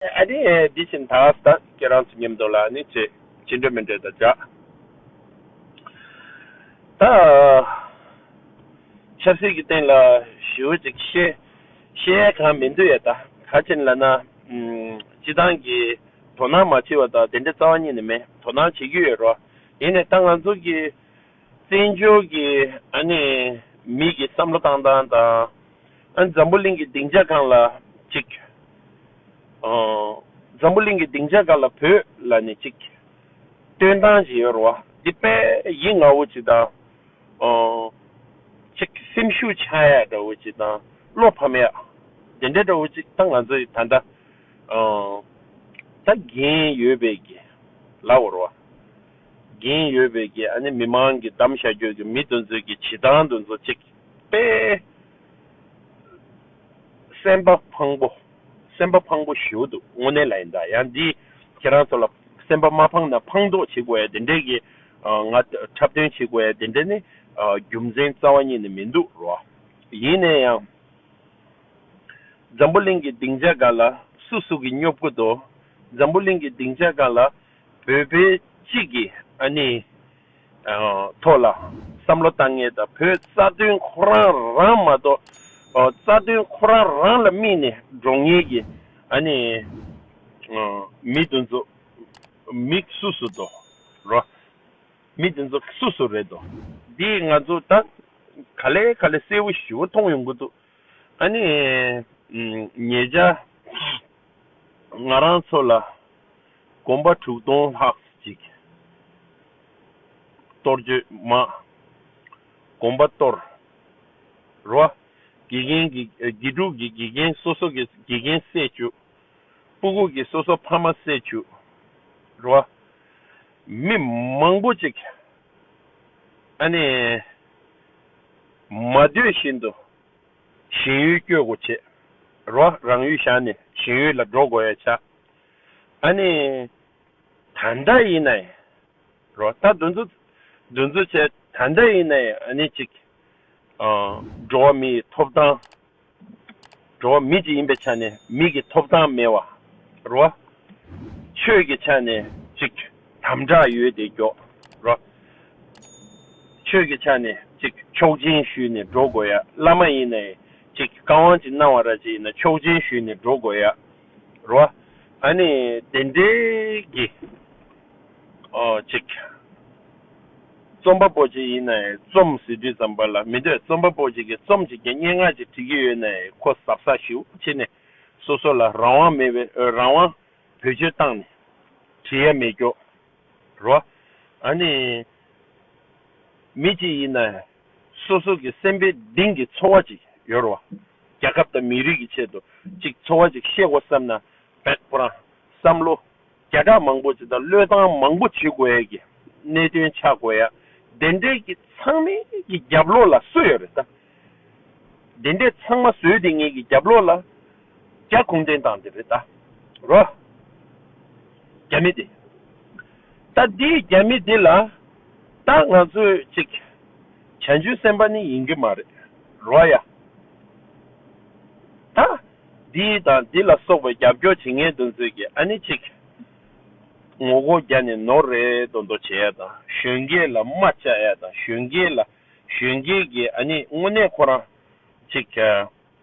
ཨ་དེ་དེ་བཞིན་ད་ད་ཁྱེད་རང་ཚོ་ཉེམས་འདུག་ལ་ནི་བྱེད་བྱེད་འདོད་མི་འདོད་དང་སྦྱར། ད་ཆབ་སྲིད་ཀྱི་སྟེང་ལ་ཞུ་བ་ཅིག་བཤད་བཤད་ཡས་ཁང་མི་འདུག་ཡས་ད་ག་ཅིན་ལ་ན་སྤྱི་བཏང་གི་དོ་སྣང་མ་བྱེད་བ་ད་དེ་འདྲའི་རྩ་བ་ཉིད་ནས་མེད་དོ་སྣང་བྱེད་རྒྱུ་ཡོད་རོ་ཡིན་ནས་ད་ང་ཚོ་གི་བཙན་བྱོལ་གྱི་ཨ་ནི་མིག་གི་བསམ་བློ་བཏང་སྟངས་དང་ཨ་ནི་འཛམ་བུ་གླིང་གི་སྡིངས་ཆ་གང་ལ་གཅིག་ཨ་འཛམ་བུ་གླིང་གི་སྡིངས་ཆ་གང་ལ་བོད་ལ་ནི་གཅིག་སྟོན་སྟངས་ཇི་ཡོད་རུ་བ་འདི་དཔེ་ཡིད་ང་བོ་ཅིག་དང་ཨ་ཅིག་སེམས་ཤུགས་ཆག་ཡ་འདྲ་བོ་ཅིག་དང་བློ་ཕམ་ཡ་དེ་འདྲ་འདྲ་བོ་ཅིག་ད་ང་ཚོས་ད་ལྟ་ཨ་ད་རྒྱན་ཡོད་པའི་གི་ལ་བོ་རུ་བ། གིན་ཡོད་པའི་གི་ཨ་ནི་མི་མང་གི་གདམ་བྱ་རྒྱོད་གི་མི་དོན་ཚོད་གི་བྱི་ཏང་དོན་ཚོ་ཅིག་པས། སེམས་པ་ཕངས་པོ་སེམས་པ་ཕངས་པོ་ཞུ་འདུག་དངོས་གནས་ལ་ཡིན་ད་ཡང་འདི་ཁྱེད་རང་ཚོ་ལ་སེམས་པ་མ་ཕངས་ན་ཕངས་འདོག་བྱེད་དགོས་ཡ་དེ་འདྲའི་གི་ང་འཁྲབ་སྟོན་བྱེད་དགོས་ཡ་དེ་འདྲ་ནི་རྒྱུ་མཚན་རྩ་བ་ཉིད་ནི་མི་འདུག་རོ། ཡིན་ནས་ཡང། འཛམ་བུ་གླིང་གི་སྡིངས་ཆ་འགའ་ལ་སུ་སུ་གི་སྙོབ་དགོས་དོ་འཛམ་བུ་གླིང་གི་སྡིངས་ཆ་འགའ་ལ། བོད་པའི་གཅིག་གི་ཨ་ནེའི་ཐོག་ལ་བསམ་བློ་བཏང་ངེས་དང་བོད་རྩ་དོན་ཁོ་རང་རང་མ་གཏོགས་རྩ་དོན་ཁོ་རང་རང་ལ་དམིགས་ནས་འགྲོ་ངེས་ཀྱི་ཨ་ནེ་མི་དེ་ཚོ་མི་སུ་སུ་དོ་ར་མི་དེ་ཚོ་སུ་སུ་རེད་དོ་འདི་ང་ཚོ་ད་ག་ལེ་ག་ལེ་གསལ་བོ་ཞུ་བོ་མཐོང་ཡོང་གི་འདུག་ཨ་ནེ་ངེད་ཅག་ང་རང་ཚོ་ལ་དགོན་པ་དྲུག་སྟོང་ལྷག་ཅིག། གཏོར་བརྗོད་མ། དགོན་པ་གཏོར། རོ། དགེ་རྒན་གྱི་དགེ་ཕྲུག་གི་དགེ་རྒན་སོ་སོ་གི་དགེ་རྒན་བསད་བཅུག། སྤུ་གུག་གི་སོ་སོ་ཕ་མ་བསད་བཅུག། རོ། མི་མང་པོ་ཅིག། ཨ་ནི། མ་འདོད་བཞིན་དུ། གཞན་ཡུལ་སྐྱོད་དགོ་བྱེད། རོ། རང་ཡུལ་བཞག་ནས་གཞན་ཡུལ་ལ་འགྲོ་དགོ་ཡ་བྱ། ཨ་ནི། ད་ལྟ་ཡིན་ན་ཡིན་རོགས་ད་འདུ་འཛོ་འདུ་འཛོ་བྱས་ད་ལྟ་ཡིན་ན་ཡིན་ཨ་ནི་ཅིག། འགྲོ་བ་མི་ཡི་ཐོབ་ཐང། འགྲོ་བ་མི་ཅིག་ཡིན་པའི་ཆ་ནས་མི་གི་ཐོབ་ཐང་མེད་བ་རོ། ཆོས་ཀྱི་ཆ་ནས་ཅིག་དམ་བསྒྲགས་ཡོད་དེ་མགྱོགས་རོ། ཆོས་ཀྱི་ཆ་ནས་ཅིག་མཆོག་སྦྱིན་ཞུས་ནས་འགྲོ་དགོས་ཡ་བླ་མ་ཡིན་ན་ཡིན་ཅིག་བཀའ་དབང་ཅིག་གནང་བ་ར་ཅིག་ཡིན་ན་མཆོག་སྦྱིན་ཞུས་ནས་འགྲོ་དགོས་ཡ། རོ། ཨ་ནི་བདེན་བྲལ་གྱི། ཨོ་ཅིག། རྩོམ་པ་པོ་ཅིག་ཡིན་ནས་རྩོམ་ཟེར་དུས་ཙམ་པ་ལ་མི་འདོད་རྩོམ་པ་པོ་ཅིག་གིས་རྩོམ་བྱེད་ཀྱི་སྙན་ངག་ཅིག་བྲི་གི་ཡོད་ནས་ཁོ་གཟབ་གཟབ་ཞིག་བྱེད་ནས་སོ་སོ་ལ་རང་དབང་མེད་པའི་རང་དབང་བེད་སྤྱོད་བཏང་ནས་བྲི་ཡ་མེད་སྐྱོ། རོ། ཨ་ནི། མི་ཅིག་ཡིན་ནས་སོ་སོ་གི་སེམས་པའི་གདིང་གི་ཚོར་བ་ཅིག་ཡོར་བ། རྒྱ་ཁབ་དང་མི་རིགས་ཀྱི་ཆེད་དུ་ཅིག་ཚོར་བ་ཅིག་གཤེགས་བ་བསམ་ན་བེག་པོ་རང་བསམ་བློ་བརྒྱ་ཕྲག་མང་པོ་ཅིག་དང་བློས་བཏང་མང་པོ་བྱེད་དགོས་ཡས་ཀྱི་གནད་དོན་ཆགས་དགོས་ཡ་དེ་འདྲས་ཀྱི་ཚང་མའི་ཀྱི་རྒྱབ་ལོགས་ལ་སུ་ཡོར་རེད་ད། དེ་འདྲས་ཚང་མ་བཟོས་དེ་ངས་ཀྱི་རྒྱབ་ལོགས་ལ། རྒྱ་གུང་བརྟེན་དང་འདི་རེད་ད་རོ། རྒྱ་མི་འདི། ད་འདི་རྒྱ་མི་འདི་ལ། ད་ང་ཚོས་ཅིག། བྱང་ཆུང་སེམས་པ་ནི་ཡིན་གྱི་མ་རེད་རོ་ཡ། ད་འདི་དང་འདི་ལ་སོགས་པའི་རྒྱབ་སྐྱོར་བྱེད་མཁན་དུ་ཚོད་ཀྱི་ཨ་ནི་ཅིག། ངོ་རྒོལ་རྒྱ་ནས་ནོར་རེ་དོ་འདོ་བྱེད་ཡ་དང་གཞོན་སྐྱེས་ལ་རྨ་བཅག་ཡ་དང་གཞོན་སྐྱེས་ལ་གཞོན་སྐྱེས་ཀྱི་ཨ་ནི་དངོས་གནས་ཁོ་རང་ཅིག།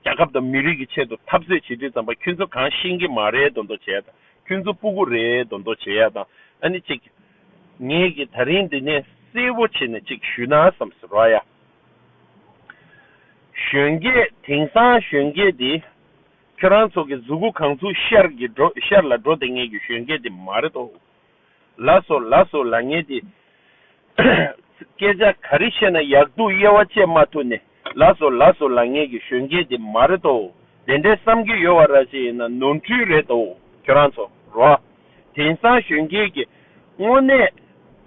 རྒྱལ་ཁབ་དང་མི་རིགས་ཀྱི་ཆེད་དུ་འཐབ་རྩོད་བྱེད་དུས་ཙམ་པ་ཁྱོད་ཚོ་གང་ཤེས་ཀྱི་མ་རེད་མདོ་མདོ་བྱས་དང་ཁྱོད་ཚོ་སྤུ་གུ་རེད་མདོ་མདོ་བྱས་ཡ་དང་ཨ་ནི་ཅིག། ངས་ཀྱི་ད་རིང་འདི་ནས་གསལ་བོ་བྱས་ནས་ཅིག་ཞུས་ན་བསམ་ཟེར་རོ་ཨ་ཡ། གཞོན་སྐྱེས་དེང་སང་གཞོན་སྐྱེས་དེ་ཁྱོད་རང་ཚོ་གི་གཟུགས་སྐུ་གང་ཚུགས་ཤར་གྱི་འགྲོ་ཤར་ལ་འགྲོ་བསྡད་ངས་ཀྱི་གཞོན་སྐྱེས་དེ་མ་རེད་དོ། ལ་སོགས་ལ་སོགས་ལ་ངེས་ཏེ། སྐད་ཆ་ག་རེ་བཤད་ན་ཡག་སྡུག་དབྱེ་བ་དཔྱད་མ་ཐུབ་ནས་ལ་སོགས་ལ་སོགས་ལ་ངེས་ཀྱི་གཞོན་སྐྱེས་དེ་མ་རེད་དོ། དེ་འདྲའི་བསམ་གྱི་ཡོད་བ་ར་ཅན་ཡིན་ན་ནོར་འཁྲུལ་རེད་དོ་ཁྱོད་རང་ཚོ་རོ། དེང་སང་གཞོན་སྐྱེས་ཀྱི་དངོས་གནས་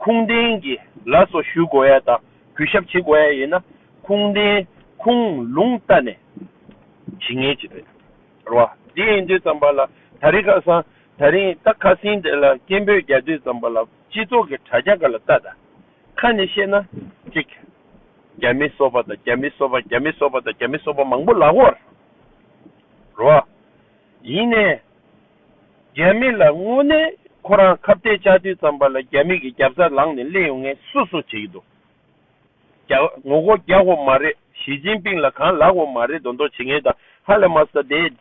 ཁུངས་ལྡན་གྱི་ལ་སོགས་ཞུ་དགོས་ཡ་དང་གུས་ཞབས་བྱེད་དགོས་ཡ་ཡིན་ན་ཁུངས་ལྡན་ཁུངས་ལུང་བལྟ་ནས་བྱེད་ངེས་ཅི་རེད་རོ། དེ་ཡིན་དུས་ཙམ་པ་ལ་ད་རེ་ཁ་སང་ད་རིང་རྟ་ཁ་སིང་དེ་ལ་སྐད་འབོད་རྒྱག་དུས་ཙམ་པ་ལ་སྤྱི་ཚོགས་ཀྱི་དྲ་རྒྱ་འགའ་ལ་ལྟ་ད། ཁ་ནས་བཤད་ན། གཅིག། རྒྱ་མི་གསོ་པ་དང་རྒྱ་མི་གསོ་པ་རྒྱ་མི་གསོ་པ་དང་རྒྱ་མི་གསོ་པ་མང་པོ་ལག་འོར། རོ། ཡིན་ནས། རྒྱ་མི་ལ་དངོས་གནས་ཁོ་རང་ཁ་བརྡས་བཅག་དུས་ཙམ་པ་ལ་རྒྱ་མི་གི་རྒྱབ་རྩར་ལངས་ནས་གླེང་ཡོང་ངེས་སུ་སུ་བྱེད་ཀྱི་འདུག་རྒྱ། ངོ་སྒོ་རྒྱག་འོ་མ་རེད་ཞི་ཅིན་པིང་ལ་གང་ལགས་འོ་མ་རེད་མདོག་མདོག་བྱེད་ངེས་དང་ཧ་ལས་མ་ས་དེ།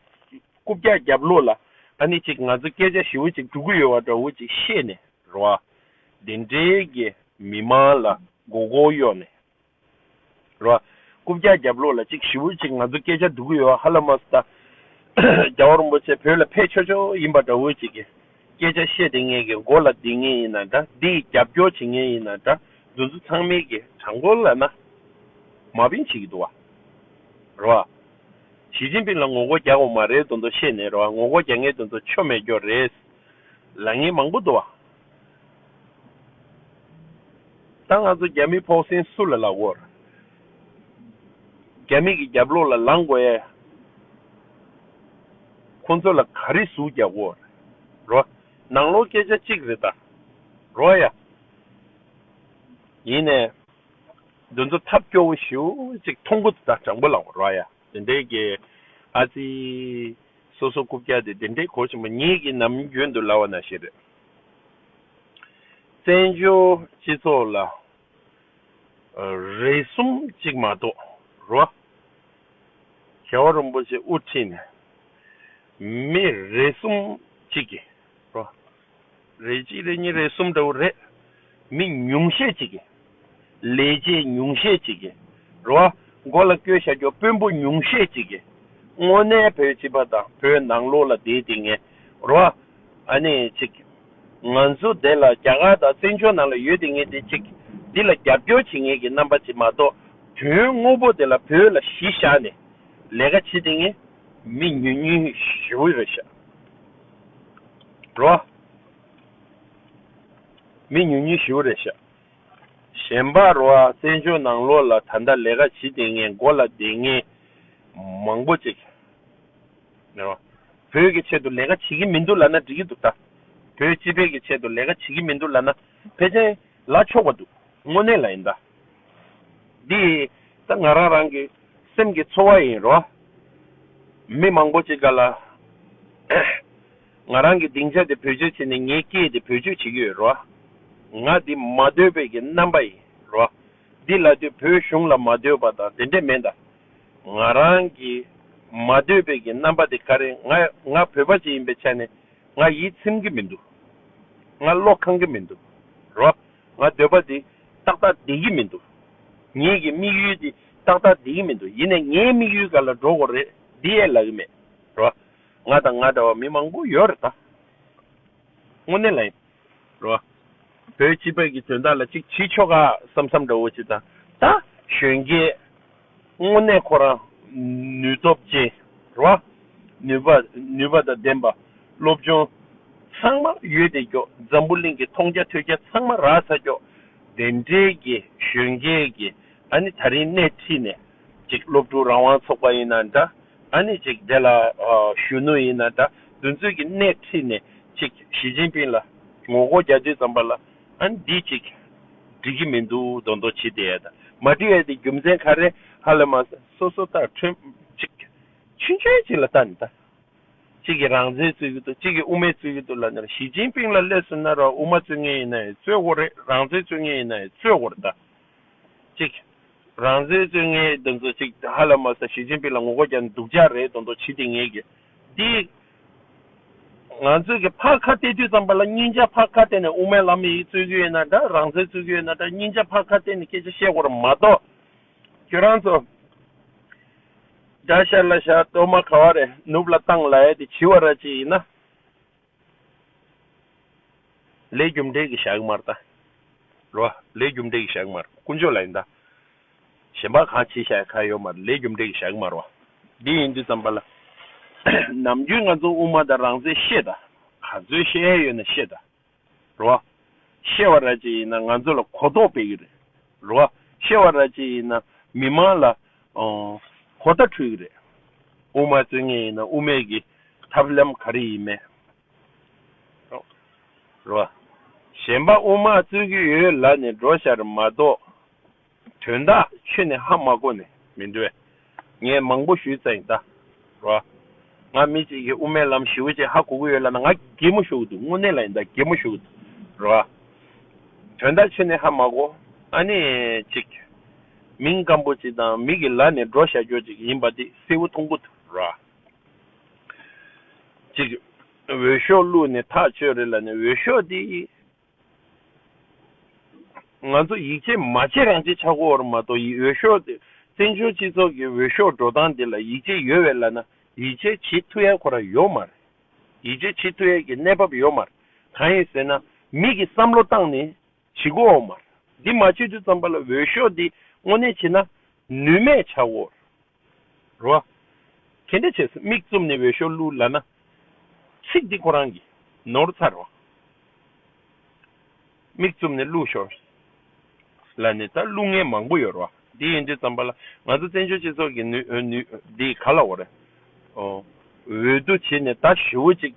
རྐུབ་བཀྱག་བརྒྱབ་ལོ་ལ་ད་ནི་ཅིག་ང་ཚོ་སྐད་ཆ་ཞིབ་བོ་ཅིག་འབྲུ་གུ་ཡོད་བ་འདྲ་བོ་ཅིག་བཤད་ནས་རོགས། དེ་འབྲེལ་གྱི་མི་དམངས་ལ་མགོ་སྐོར་གཡོག་ནས་རོགས། རྐུབ་བཀྱག་བརྒྱབ་ལོ་ལ་ཅིག་ཞིབ་བོ་ཅིག་ང་ཚོ་སྐད་ཆ་འབྲུ་གུ་ཡོད་བ་ཧ་ལ་མ་སུ་ད། རྒྱ་བོ་རིན་པོ་ཆེ་བོད་ལ་ཕེ་ཆོ་ཆོ་ཡིན་པ་འདྲ་བོ་ཅིག་གི་སྐད་ཆ་བཤད་དེ་ངེད་ཀྱི་མགོ་ལ་སྡིགས་ངེས་ཡིན་ན་འདྲ་སྡིགས་རྒྱབ་སྐྱོར་བྱེད་ངེས་ཡིན་ན་འདྲ་འདུ་འཛི་ཚང་མེད་ཀྱི་དྲ་མགོ་ལ་ན་མ་བིན་བྱེད་ཀྱི་འདུག་བ་རོགས། ཞི་ཅིན་ཕིན་ལ་ངོ་རྒོལ་རྒྱག་དགོས་མ་རེད་དོ་འདོ་བཤད་ནས་རོ་ངོ་རྒོལ་རྒྱག་ངེས་དོ་འདོ་ཆོ་མེད་རྒྱོ་རེད། ལ་ངེས་མང་པོ་འདོ། ད་ང་ཚོ་རྒྱ་མི་ཕོག་སེང་སུ་ལ་ལ་དགོས། རྒྱ་མི་གི་རྒྱབ་ལོག་ལ་ལང་དགོས་ཡ། ཁོ་ཚོ་ལ་ག་རེ་ཟུག་རྒྱག་དགོས་རོ། ནང་ལོག་སྐད་ཆ་གཅིག་རེད་ད་རོ་ཡ། ཡིན་ནས། འདུ་འཛོ་ཐབས་སྐྱོ་བོ་ཞུ་གཅིག་མཐོང་གུ་ད་དྲང་པོ་ལགས་རོ་ཡ་དེ་འདྲའི་གི་ཨ་ཙི་སོ་སོ་རྐུབ་བཀྱག་དེ་དེ་འདྲའི་གོ་ཆེན་པོ་ཉིད་ཀྱི་ནམ་རྒྱུན་དུ་ལ་བ་ན་ཞིག་རེད་བཙན་བྱོལ་སྤྱི་ཚོགས་ལ་རེ་གསུམ་གཅིག་མ་གཏོགས་རོ་ཤ་བ་རིན་པོ་ཆེ་དབུ་ཁྲིད་ནས་མི་རེ་གསུམ་གཅིག་གི་རོ། རེ་གཅིག་རེ་གཉིས་རེ་གསུམ་འདྲ་བོ་རེད། མི་ཉུང་ཤས་ཅིག་གིས། ལས་བྱེད་ཉུང་ཤས་ཅིག་གིས། རེ་བ། མགོ་ལ་སྐྱོད་བྱ་རྒྱུ་དཔོན་པོ་ཉུང་ཤས་ཅིག་གིས། དངོས་གནས་བོད་སྤྱི་པ་དང་བོད་ནང་ལོགས་ལ་བསྡད་དེ་ངས། རེ་བ། ཨ་ནི་ཅིག། ང་ཚོ་དེ་ལ་རྒྱ་གར་དང་བཙན་བྱོལ་ནང་ལ་ཡོད་དེ་ངས་དེ་ཅིག། འདི་ལ་རྒྱབ་སྐྱོར་བྱེད་ངེས་ཀྱི་རྣམ་པ་ཅིག་མ་གཏོགས། དོན་དངོས་པོ་དེ་ལ་བོད་ལ་གཞི་བཞག་ནས། ལས་ཀ་བྱེད་དེ་ངས། མི་ཉུང་ཉུང་ཞུ་རེ་བྱ། འགྲོ། མི་ཉུང་ཉུང་བཞི་བོ་རེ་བཞག། གཞན་པ་རོ་ཨ་བཙན་བྱོལ་ནང་ལོགས་ལ་ད་ལྟ་ལས་ཀ་བྱེད་བདེ་ངེས་མགོ་ལ་བདེ་ངེས་མང་པོ་ཅིག་རེད། བོད་ཀྱི་ཆེད་དུ་ལས་ཀ་བྱེད་ཀྱི་མི་འདུག་ལ་ན་འགྲིག་གི་འདུག་ད། བོད་སྤྱི་བེད་ཀྱི་ཆེད་དུ་ལས་ཀ་བྱེད་ཀྱི་མི་འདུག་ལ་ན་ཕལ་ཆེར། ལ་ཕྱོགས་པ་འདུག་དངོས་གནས་ལ་ཡིན་ད། འདི་ད་ང་རང་རང་གི་སེམས་ཀྱི་ཚོར་བ་ཡིན་རོ། མི་མང་པོ་ཅིག་ག་ལ་ང་རང་གི་སྡིངས་ཆ་དེ་བེད་སྤྱོད་བྱེད་ནས་ངའི་སྐད་དེ་བེད་སྤྱོད་བྱེད་ཀྱི་ཡོད་རོ། ང་འདི་མ་འདོད་པའི་གི་རྣམ་པ་ཡིན་རོ། འདི་ལ་དུས་བོད་གཞུང་ལ་མ་འདོད་པ་དང་དེ་འདྲས་མེད་ད། ང་རང་གི་མ་འདོད་པའི་གི་རྣམ་པ་དེ་ཀ་རེ་ང་ང་བོད་པ་ཅིག་ཡིན་པའི་ཆ་ནས་ང་ཡིད་ཚིམ་གྱི་མི་འདུག། ང་བློ་ཁང་གི་མི་འདུག་རོ། ང་འདོད་པ་འདི་ཏག་ཏག་བདེ་གི་མི་འདུག། ངེད་ཀྱི་དམིགས་ཡུལ་འདི་ཏག་ཏག་བདེ་གི་མི་འདུག་ཡིན་ནས་ངའི་དམིགས་ཡུལ་ག་ལ་འགྲོ་དགོས་རེད་འདི་ཡས་ལབ་ཀྱི་མེད་རོ། ང་དང་ང་འདྲ་བ་མི་མང་པོ་ཡོད་རེད་ད། དངོས་གནས་ལ་ཡིན་རོ། བོད་སྤྱི་བོད་ཀྱི་དོན་དག་ལ་ཅིག་བྱེད་ཆོག་ག་བསམ་བསམ་འདྲ་བོ་ཅིག་དང་ད་གཞོན་སྐྱེས། སྔོན་གནས་ཁོ་རང་ནུས་སྟོབས་བཅས་རོ། ནུས་པ་ནུས་པ་དང་ལྡན་པ་སློབ་ཆུང་ཚང་མ་ཡོད་དེ་སྐྱོ་འཛམ་བུ་གླིང་གི་མཐོང་རྒྱ་ཐོས་རྒྱ་ཚང་མ་རགས་ཚ་སྐྱོ། དེ་འབྲེལ་གྱི་གཞོན་སྐྱེས་ཀྱི་ཨ་ནི་ད་རིང་སྣེ་ཁྲིད་ནས་ཅིག་སློབ་ཕྲུག་རང་དབང་ཚོགས་པ་ཡིན་ན་འདྲ་ཨ་ནི་ཅིག་དེ་ལ་གཞོན་ནུ་ཡིན་ན་འདྲ་འདུ་འཛོད་ཀྱི་སྣེ་ཁྲིད་ནས་ཅིག་ཞི་ཅིན་ཕིན་ལ་ངོ་རྒོལ་རྒྱག་དུས་ཙམ་པ་ལ། ཨཱ་འདི་ཅིག། འགྲིག་གི་མི་འདུག་མདོ་མདོ་ཇི་སྟེ་ད། མ་འགྲིག་ཨེ་དེ་རྒྱུ་མཚན་ག་རེ། ཧ་ལས་མ་ཟད་སོ་སོ་ལྟར་ཁྲོལ། ཅིག། ཆུན་ཆོན་ཅིག་ལ་ལྟ་ནི་ལྟ། གཅིག་གིས་རང་བཙན་རྩོད་ཀྱི་འདུག་གཅིག་གིས་དབུ་མའི་རྩོད་ཀྱི་འདུག་ལབ་ན་ཞི་ཅིན་ཕིང་ལ་སླེབས་སུ་གནར་བ་དབུ་མ་རྩོད་མཁན་ཡིན་ན་ཡང་རྩོད་དགོས་རེད་རང་བཙན་རྩོད་མཁན་ཡིན་ན་ཡང་རྩོད་དགོས་རེད་ད། ཅིག། རང་བཙན་རྩོད་མཁན་འདི་ཚོ་ཅིག་ཧ་ལས་མ་ཟད་ཞི་ཅིན་ཕིང་ལ་ངོ་རྒོལ་རྒྱག་ནི་སྡུག་ཅག་རེད་མདོ་མདོ་ཇི་སྟེ་ངེད་ཀྱི། འདི། ང་ཚོས་ཀྱི་ཕག་ཁ་བལྟས་དུས་ཙམ་པ་ལ་སྙིང་རྗེ་ཕག་ཁ་བལྟས་ནས་དབུ་མའི་ལམ་ཡིག་རྩོད་ཀྱི་ཡོད་ན་འདྲ་རང་བཙན་རྩོད་ཀྱི་ཡོད་ན་འདྲ་སྙིང་རྗེ་ཕག་ཁ་བལྟས་ནས་སྐད་ཆ་བཤད་དགོས་ར་མ་གཏོགས། ཁྱོད་རང་ཚོ། དགྲ་ཤར་ལ་ཤར་གཏོར་མ་ག་བ་རེད་ནུབ་ལ་བཏང་ལ་ཡ་དེ་བྱི་བ་ར་ཅིག་ཡིན་ན། ལས་རྒྱུ་འབྲས་ཀྱི་ཞག་མར་ལྟ། རོ། ལས་རྒྱུ་འབྲས་ཀྱི་ཞག་མར་དཀོན་མཆོག་ལ་ཡིན་ལྟ། གཞན་པ་གང་བྱེད་བྱ་ཡ་གང་ཡོད་མར་ལས་རྒྱུ་འབྲས་ཀྱི་ཞག་མར་བ། འདི་ཡིན་དུས་ཙམ་པ་ལ། ནམ་རྒྱུན་ང་ཚོ་དབུ་མ་དང་རང་བཙན་བཤད་ལྟ། ག་ཚོད་བཤད་ཡ་ཡོད་ན་བཤད་ལྟ། རོ། བཤད་བ་ར་བྱེད་ཡིན་ན་ང་ཚོ་ལ་གོ་རྟོགས་སྤེལ་གྱི་རེད། རོ། བཤད་བ་ར་བྱེད་ཡིན་ན་མི་མང་ལ་གོ་བརྡ་འཕྲོད་ཀྱི་རེད། དབུ་མ་རྩོད་ངེས་ཡིན་ན་དབུ་མེད་ཀྱི་ཐབས་ལམ་ག་རེ་ཡིན་མེད། རེད་བ། གཞན་པ་དབུ་མ་རྩོད་ཀྱི་ཡོད་ལ་ནི་འགྲོ་ཤར་མ་གཏོགས། དོན་དག་ཆོས་ནི་ཧ་མ་གོ་ནི་མི་འདུག་བས། ངས་མང་པོ་ཞུས་ཙང་ད། རེད་བ། ང་མི་གཅིག་གིས་དབུ་མའི་ལམ་ཞི་བོ་ཅན་ཧ་གོ་གི་ཡོད་ལ་ན་ང་གད་མོ་ཞུ་གི་འདུག་དངོས་གནས་ལ་ཡིན་ད་གད་མོ་ཞུ་གི་འདུག། རེད་བ། དོན་དག་ཆོས་ནི་ཧ་མ་གོ། ཨ་ནི། གཅིག། མིང་སྐམ་པོ་ཅིག་དང་མིག་གི་ལག་ནས་སྒྲོག་བཞག་རྒྱོ་ཅིག་ཡིན་པ་འདི་གསལ་བོ་མཐོང་གོ་ཐུབ་ར་ཅིག། འོས་ཤོག་བླུགས་ནས་ཐག་གཅོད་རེད་ལ་ནི་འོས་ཤོག་འདི། ང་ཚོ་ཡིག་ཆས་མ་ཆེ་རང་ཆེ་ཆགས་གོ་བར་མ་གཏོགས་ཡིག་འོས་ཤོག་འདི་བཙན་བྱོལ་སྤྱི་ཚོགས་ཀྱི་འོས་ཤོག་འགྲོ་སྟངས་འདི་ལ་ཡིག་ཆས་ཡོད་བས་ལ་ན་ཡིག་ཆས་ཇི་ཐུ་ཡ་གོ་ར་ཡོད་མ་རེད། ཡིག་ཆས་ཇི་ཐུ་ཡ་གི་གནས་བབ་ཡོད་མ་རེད་གང་ཡིན་ཟེར་ན་མིག་གི་བསམ་བློ་བཏང་ནས། བྱི་གུ་འོག་མར། འདི་མ་བྱེད་དུས་ཙམ་པ་ལ་འོས་ཤོག་འདི་དངོས་གནས་བྱེད་ན། ནུས་མེད་ཆགས་བོར་རོ། གལ་འདྲ་བྱས་སམ་མིག་བཙུམ་ནས་འོས་ཤོག་བླུ་ལ་ན། ཚིག་འདི་ཁོ་རང་གིས་ནོར་ཚར་རོ། མིག་བཙུམ་ནས་བླུ་ཤོག་ལ་ནི་ད་བླུ་ངེས་མང་པོ་ཡོད་རོ། འདི་ཡིན་དུས་བརྩམས་པ་ལ་ང་ཚོ་བཙན་བྱོལ་སྤྱི་ཚོགས་ཀྱི་ནུས་འདི་ག་ལ་འོ་རེད། འོས་བསྡུ་བྱས་ནས་ད་ཞི་བོ་ཅིག་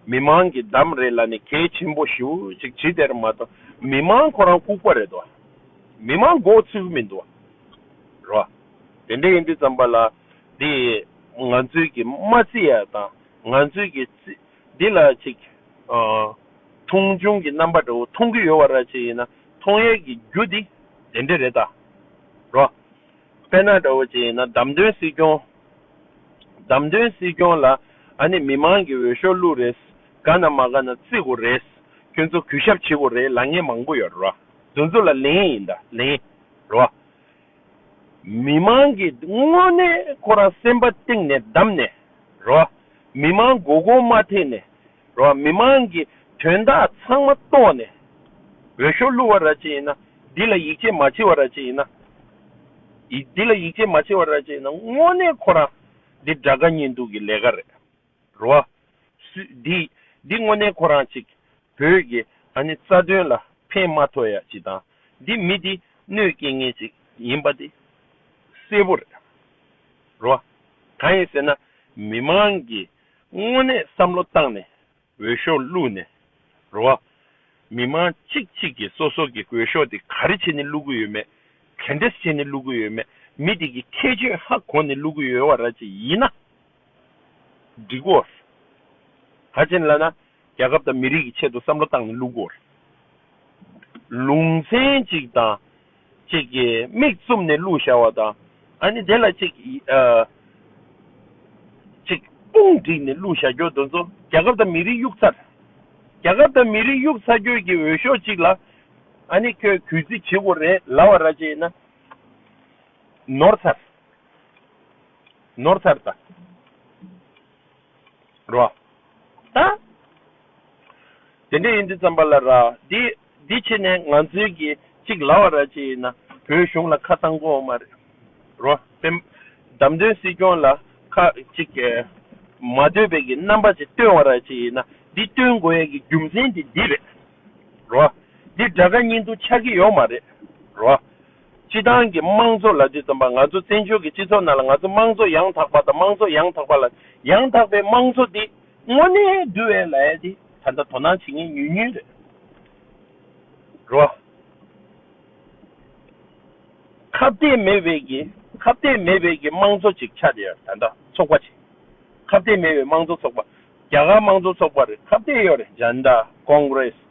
མི་མང་གི་འདམ་རེད་ལ་ནི་གལ་ཆེན་པོ་ཞི་བོ་ཅིག་བྱེད་དེར་མ་གཏོགས་མི་མང་ཁོ་རང་ལྐུགས་པ་རེད་དོ། མི་མང་མགོ་ཚོས་གི་མིན་དོ། རོ། དེ་འདྲ་ཡིན་དུས་བརྩམས་པ་ལ་འདི་ང་ཚོའི་གི་མ་རྩི་ཡ་དང་ང་ཚོའི་གི་རྩི་འདི་ལ་ཅིག། མཐོང་ཆུང་གི་རྣམ་པ་འདྲ་བོ་མཐོང་གི་ཡོད་བ་ར་ཅིག་ཡིན་ན་མཐོང་ཡས་ཀྱི་རྒྱུ་འདི་དེ་འདྲས་རེད་ད་རོ། དཔལ་ནཱ་འདྲ་བོ་ཅིག་ཡིན་ན་བདམས་ཐོན་སྲིད་སྐྱོང། བདམས་ཐོན་སྲིད་སྐྱོང་ལ་ཨ་ནི་མི་མང་གི་འོས་ཤོག་བླུག་རེས་དགའ་ན་མ་དགའ་ན་བརྩི་དགོ་རེས་ཁྱོད་ཚོ་གུས་ཞབས་བྱེད་དགོ་རེས་ལ་ངན་མང་པོ་ཡོད་ར་རོ། འདུ་འཛོ་ལ་ལེན་ཡིན་ད་ལེན་ར་རོ། མི་མང་གི་དངོས་གནས་ཁོ་རང་སེམས་པ་གཏིང་ནས་བདམས་ནས་རེད་བ། མི་མང་མགོ་སྐོར་མ་ཐེག་ནས་རེད་བ། མི་མང་གི་དོན་དག་ཚང་མ་རྟོགས་ནས་འོས་ཤོག་བླུ་བ་ར་ཅི་ཡིན་ན་འདི་ལ་ཡིད་ཆེས་མ་བྱེད་བ་ར་ཅི་ཡིན་ན། འདི་ལ་ཡིད་ཆེས་མ་བྱེད་བ་ར་ཅི་ཡིན་ན་དངོས་གནས་ཁོ་རང་འདི་དགྲ་དགའ་གཉེན་སྡུག་གི་ལས་ཀ་རེད། རོ། སུས་འདི་འདི་དངོས་གནས་ཁོ་རང་ཅིག། བོད་ཀྱི་ཨ་ནི་རྩ་དོན་ལ་ཕན་མ་ཐོགས་ཡ་ཅིག་དང་འདི་མི་འདི་གནོད་སྐྱེལ་ངེས་ཅིག་ཡིན་པ་འདི་གསལ་པོ་རེད། རོ། གང་ཡིན་ཟེར་ན་མི་མང་གིས་དངོས་གནས་བསམ་བློ་བཏང་ནས་འོས་ཤོག་བླུགས་ནས། རོ། མི་མང་གཅིག་གཅིག་གིས་སོ་སོ་གི་གོས་ཤོག་དེ་ག་རེ་བྱས་ནས་བླུག་གི་ཡོད་མེད་ག་འདྲས་བྱས་ནས་བླུག་གི་ཡོད་མེད་མི་དེ་གི་ཁྱད་ཆོས་ཧ་གོ་ནས་བླུག་གི་ཡོད་བ་ར་ཅིག་ཡིན་ན། སྒྲིག་སྐོར། ད་ཕྱིན་བླ་ན་རྒྱ་ཁབ་དང་མི་རིགས་ཀྱི་ཆེད་དུ་བསམ་བློ་བཏང་ནས་བླུག་སྐོར། ལུང་ཚན་གཅིག་དང་གཅིག་གི་མིག་བཙུམ་ནས་བླུག་བཞག་བ་དང་ཨ་ནི་དེ་ལ་གཅིག་གཅིག་དཔུང་བསྒྲིགས་ནས་བླུག་བཞག་རྒྱུ་དེ་ཚོ་རྒྱ་ཁབ་དང་མི་རིགས་གཡུག་ཚར། རྒྱ་ཁབ་དང་མི་རིགས་གཡུག་ཚར་ཁྱོད་ཀྱིས་འོས་ཤོག་གཅིག་ལ་ཨ་ནི་ཁྱོད་གུས་བརྩི་བྱེད་དགོས་རེད་ལབ་བ་ར་བྱེད་ཡིན་ན་ནོར་ཚར། ནོར་ཐར་ད་རོ། ད། དེ་འདྲས་ཡིན་དུས་ཙམ་པ་ལ་ར། དེ་དེ་ཕྱིར་ནས་ང་ཚོའི་གི་གཅིག་ལ་བ་ར་ཅི་ཡིན་ན་བོད་གཞུང་ལ་ཁ་བཏང་གོ་མ་རེད། རོ། བེམ། བདམས་ཐོན་སྲིད་སྐྱོང་ལ་ཁ་གཅིག་གི། མ་འདོད་པའི་གི་རྣམ་པ་ཅིག་སྟོན་བ་ར་ཅི་ཡིན་ན་འདི་སྟོན་དགོས་ཡས་གི་རྒྱུ་མཚན་དེ་འདི་རེད། རོ། འདི་དགྲ་དགའ་གཉེན་སྡུག་ཆགས་གི་ཡོག་མ་རེད། རོ། སྤྱི་བཏང་གི་དམངས་གཙོ་ལ་འདི་ཙམ་པ་ང་ཚོ་བཙན་བྱོལ་གྱི་སྤྱི་ཚོགས་ནང་ལ་ང་ཚོ་དམངས་གཙོ་ཡང་དག་པ་དང་དམངས་གཙོ་ཡང་དག་པ་ལ་ཡང་དག་པའི་དམངས་གཙོ་འདི་དངོས་གནས་བསྡུ་བའི་ལས་འདི་ད་ལྟ་དོ་སྣང་བྱེད་ངེས་ཉུལ་ཉུལ་རེད། ཁ་བརྡས་མེད་བས་ཀྱི་ཁ་བརྡས་མེད་བས་ཀྱི་དམངས་གཙོ་ཅིག་ཆགས་ཡོད་རེད་ད་ལྟ་ཚོགས་པ་ཆེ་ཁ་བརྡས་མེད་བས་དམངས་གཙོ་ཚོགས་པ་རྒྱ་གར་དམངས་གཙོ་ཚོགས་པ་རེད་ཁ་བརྡས་ཡོད་རེད་འཇན་དཱ། Congress།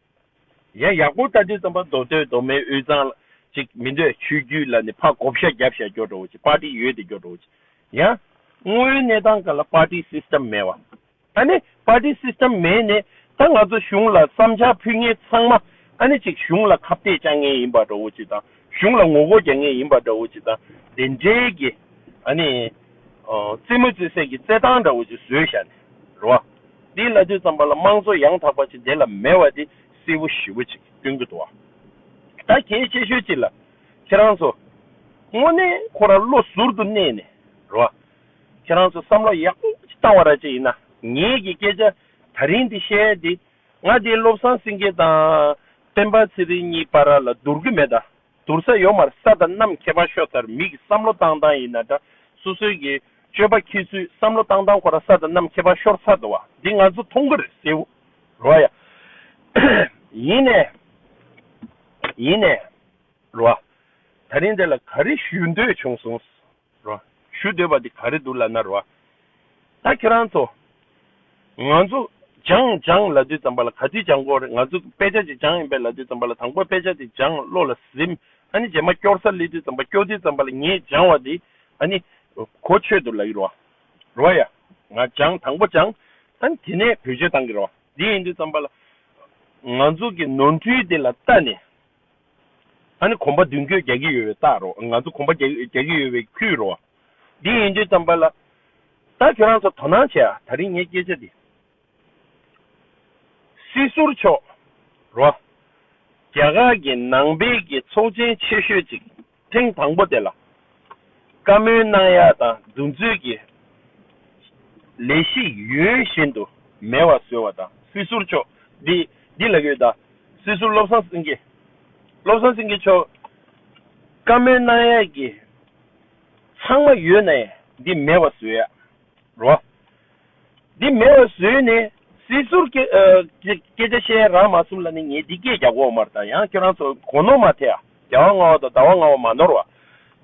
ཡང་ཡག་པོ་ལྟ་དུས་རྩམ་པ་མདོ་སྟོད་མདོ་སྨད་དབུས་གཙང་ལ་ཅིག་མི་འདོད་ཆོས་རྒྱུད་ལ་ནི་ཕ་གོ་བཤའ་རྒྱབ་བཤའ་སྐྱོ་འགྲོ་བོ་ཅིག་པར་ཏི་ཡོད་དེ་སྐྱོ་འགྲོ་བོ་ཅིག་ཡང། དངོས་ཡོད་གནས་སྟངས་ག་ལ་པར་ཏི་སིསྟེམ་མེད་བ། ཨ་ནི་པར་ཏི་སིསྟེམ་མེད་ནས་ད་ང་ཚོ་གཞུང་ལ་བསམ་འཆར་ཕུལ་ངེས་ཚང་མ་ཨ་ནི་ཅིག་གཞུང་ལ་ཁ་བཏད་བཅག་ངེས་ཡིན་པ་འགྲོ་བོ་ཅིག་དང་གཞུང་ལ་ངོ་རྒོལ་རྒྱག་ངེས་ཡིན་པ་འདྲ་བོ་ཅིག་དང་དེ་འདྲའི་གི་ཨ་ནི། རྩེད་མོ་རྩེད་སའི་གི་རྩེད་སྟངས་འདྲ་བོ་ཅིག་བཟོས་བཞག་ནས་རོ། འདིའི་བླ་དུས་ཙམ་པ་ལ་དམངས་གཙོ་ཡང་དག་པ་ཅིག་འདི་ལ་མེད་བ་འདི་གསལ་བོ་ཞི་བོ་ཅིག་སྟོན་གི་འདུག་བ། ད་གལ་ཆེ་ཤོས་ཅིག་ལ། ཁྱེད་རང་ཚོ། དངོས་གནས་ཁོ་ར་བློ་ཟུར་དུ་གནས་ནས་རེད་བ། ཁྱེད་རང་ཚོ་བསམ་བློ་ཡག་པོ་ཅིག་བཏང་བ་ར་ཅིག་ཡིན་ན་ངེད་ཀྱི་སྐད་ཆ་ད་རིང་འདི་བཤད་དེ་ང་འདི་བློ་བཟང་སེང་གེ་དང་སྤེན་པ་ཚེ་རིང་གཉིས་པ་ར་ལ་བསྡུར་གི་མེད་ད། དུར་ས་ཡོ་མར་ས་དང་གནམ་ཁྱད་པར་ཤོ་ཚར་མིག་གི་བསམ་བློ་བཏང་བཏང་ཡིན་ན་འདྲ་སོ་སོའི་གི་སྤྱོད་པ་ཁྱེད་ཚོའི་བསམ་བློ་བཏང་བཏང་ཁོ་རང་ས་དང་གནམ་ཁྱད་པར་ཤོར་ཚར་འདུག་བ་འདི་ང་ཚོ་མཐོང་གི་རེད་སེའུ་རོ་ཡ། ཡིན་ནས་ཡིན་ནས་རོ་ད་རིང་དེ་ལ་ག་རེ་ཞུ་འདོད་བྱུང་སོང། རོ། ཞུ་འདོད་པ་དེ་ག་རེ་འདུག་ལབ་ན་རོ། ད་ཁྱེད་རང་ཚོ། ང་ཚོ་སྦྱངས་སྦྱངས་ལབ་དུས་ཙམ་པ་ལ་ག་དུས་སྦྱངས་དགོས་རེད་ང་ཚོ་དཔེ་ཆ་ཅིག་སྦྱངས་ཡིན་པས་ལབ་དུས་ཙམ་པ་ལ་དང་པོ་དཔེ་ཆ་དེ་སྦྱངས་བློ་ལ་ཟིན་ཨ་ནི་རྗེས་མ་སྐྱོར་སར་སླེབས་དུས་ཙམ་པ་སྐྱོར་དུས་ཙམ་པ་ལ་ངས་སྦྱངས་བ་དེ་ཨ་ནི་གོ་ཆོད་དུ་ལབ་ཡིན་རོ། རོ་ཡ། ང་སྦྱངས་དང་པོ་སྦྱངས་ཨ་ནི་དེ་ནས་བེད་སྤྱོད་གཏང་གི་རོ་དེ་ཡིན་དུས་ཙམ་པ་ལ། ང་ཚོ་གི་ནོར་འཁྲུལ་དེ་ལ་ལྟ་ནས་ད་ནི་གོམ་པ་མདུན་སྐྱོད་རྒྱག་གི་ཡོད་པའི་རྟགས་རོ་ང་ཚོ་གོམ་པ་རྒྱག་གི་ཡོད་པའི་ཁུལ་རོ། འདི་ཡིན་དུས་ཙམ་པ་ལ། ད་ཁྱོད་རང་ཚོ་དོ་སྣང་བྱས་ཨ་ད་རིང་ངས་སྐད་ཆ་འདི། སྲིད་ཟུར་མཆོག་རོ། རྒྱ་གར་གྱི་ནང་པའི་གི་ཚོགས་ཆེན་ཆེ་ཤོས་ཅིག་ཐེངས་དང་པོ་དེ་ལ། བཀའ་མོལ་གནང་ཡ་དང་འདུག་མཛོད་ཀྱི་ལས་གཞི་ཡུན་བཞིན་དུ་མེད་བ་བཟོས་བ་དང་སྲིད་ཟུར་མཆོག་འདི་འདི་ལ་ཡོད་དང་སྲིད་ཟུར་བློ་བཟང་སེང་གེ་བློ་བཟང་སེང་གེ་མཆོག་བཀའ་མོལ་གནང་ཡ་གི་ཚང་མ་ཡོད་ནའི་འདི་མེད་བ་བཟོས་ཡ་རོ། འདི་མེད་བ་ཟོས་ནས་སྲིད་ཟུར་སྐད་ཆ་བཤད་རང་མ་གསུམ་ལ་ནི་ངས་འདི་སྐད་རྒྱག་གོ་མར་དང་ཡང་ཁྱོད་རང་ཚོ་གོ་ནོར་མ་ཐེ་ཨ་རྒྱ་བ་ང་བ་དང་ཟླ་བ་ང་བ་མ་ནོར་བ།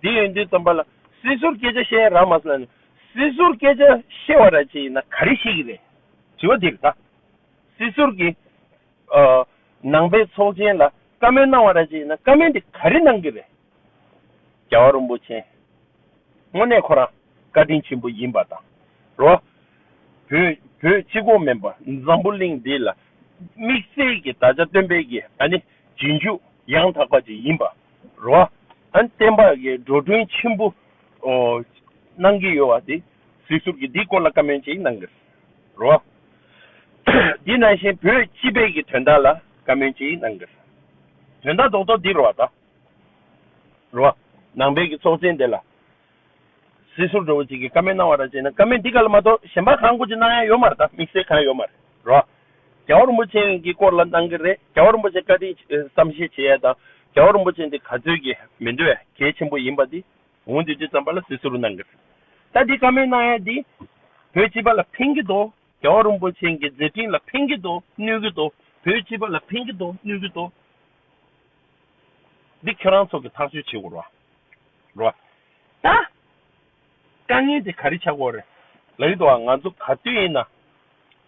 འདི་ཡོན་ཏན་རྩམ་པ་ལ་སྲིད་ཟུར་སྐད་ཆ་བཤད་རང་མ་གསུམ་ལ་ནི་སྲིད་ཟུར་སྐད་ཆ་བཤད་བ་ར་ཅིག་ཡིན་ན་ག་རེ་བཤད་ཀྱི་རེད་དྲི་བ་འདིར་ད་སྲིད་ཟུར་གྱི་ནང་པའི་ཚོགས་ཆེན་ལ་བཀའ་མོལ་གནང་བ་ར་ཅིག་ཡིན་ན་བཀའ་མོལ་འདི་ག་རེ་གནང་གི་རེད་རྒྱ་བ་རོན་པོ་ཆེན། དངོས་གནས་ཁོ་རང་བཀའ་དྲིན་ཆེན་པོ་ཡིན་པ་དང་རོ། བོད་བོད་སྤྱི་ཁོག་མེན་པ་འཛམ་བུ་གླིང་འདི་ལ་དམིགས་བསལ་གྱི་དག་ཆ་སྟོན་སྤེལ་གྱི་ཨ་ནི་རྗེས་འཇུག་ཡང་དག་པ་ཅིག་ཡིན་པ་རོ། ཨ་ནི་བསྟན་པ་གི་འགྲོ་གྲོན་ཆེན་པོ་གནང་གི་ཡོད་བ་དེ་གཟིགས་ཟུར་གྱིས་འདི་སྐོར་ལ་བཀའ་མོལ་ཅིག་གནང་གི་རོ། འདི་ནང་བཞིན་བོད་སྤྱི་པའི་གི་དོན་དག་ལ་བཀའ་མོལ་ཅིག་གནང་གི། དོན་དག་རྡོག་རྡོག་འདི་རུ་བ་དང། རོ། ནང་པའི་གི་ཚོགས་ཆེན་དེ་ལ། སྲིད་ཟུར་འགྲོ་བོ་ཅིག་གིས་ཀ་མེད་གནང་བ་ར་བྱས་ན་ཀ་མེད་འདི་ག་ལ་མ་གཏོགས་གཞན་པ་གང་དགོས་ཅི་གནང་ཡ་ཡོད་མ་རེད་ད་དམིགས་བསལ་གང་ཡོད་མ་རེད་རོ། རྒྱལ་བ་རིན་པོ་ཆེན་གི་སྐོར་ལ་གནང་གི་རེད་རྒྱལ་བ་རིན་པོ་ཆེ་བཀའ་དྲིན་ཆེ་བསམ་ཤེས་བྱེད་ཡ་དང་རྒྱལ་བ་རིན་པོ་ཆེ་འདི་ག་ཚོད་ཀྱི་མི་འདོད་གལ་ཆེན་པོ་ཡིན་པ་འདི་འོང་དུས་དེ་ཙམ་པ་ལ་སྲིད་ཟུར་གནང་གི་རེད་ད་འདི་ག་མེད་གནང་ཡ་འདི་བོད་སྤྱི་པ་ལ་ཕན་གི་འདུག་རྒྱལ་བ་རིན་པོ་ཆེན་གི་མཛད་འཕྲིན་ལ་ཕན་གི་འདུག་གནོད་གི་འདུག་བོད་སྤྱི་པ་ལ་ཕན་གི་འདུག་གནོད་གི་འདུག། འདི་ཁྱོད་རང་ཚོ་གི་ཐག་གཅོད་བྱེད་དགོས་རོ། རོ། ད། དཀའ་ངལ་དེ་ག་རེ་བྱ་དགོས་རེད། ལག་ཏུ་ང་ཚོ་ག་དུས་ཡིན་ན།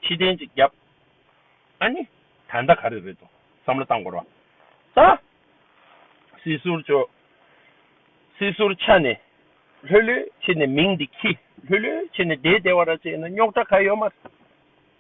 ཕྱི་གཏན་ཅིག་བརྒྱབ། ཨ་ནི། ད་ལྟ་ག་རེ་རེད་དོ། བསམ་བློ་བཏང་དགོས་རོ། ད། སྲིད་ཟུར་ཆོས། སྲིད་ཟུར་ཆ་ནས། ལྷོད་ལྷོད་བྱེད་ནས་མིང་འདི་ཁྱི། ལྷོད་ལྷོད་བྱེད་ནས་དེ་དེ་བ་ར་བྱས་ན་རྙོག་དྲ་ག་ཡོད་མ་རེད།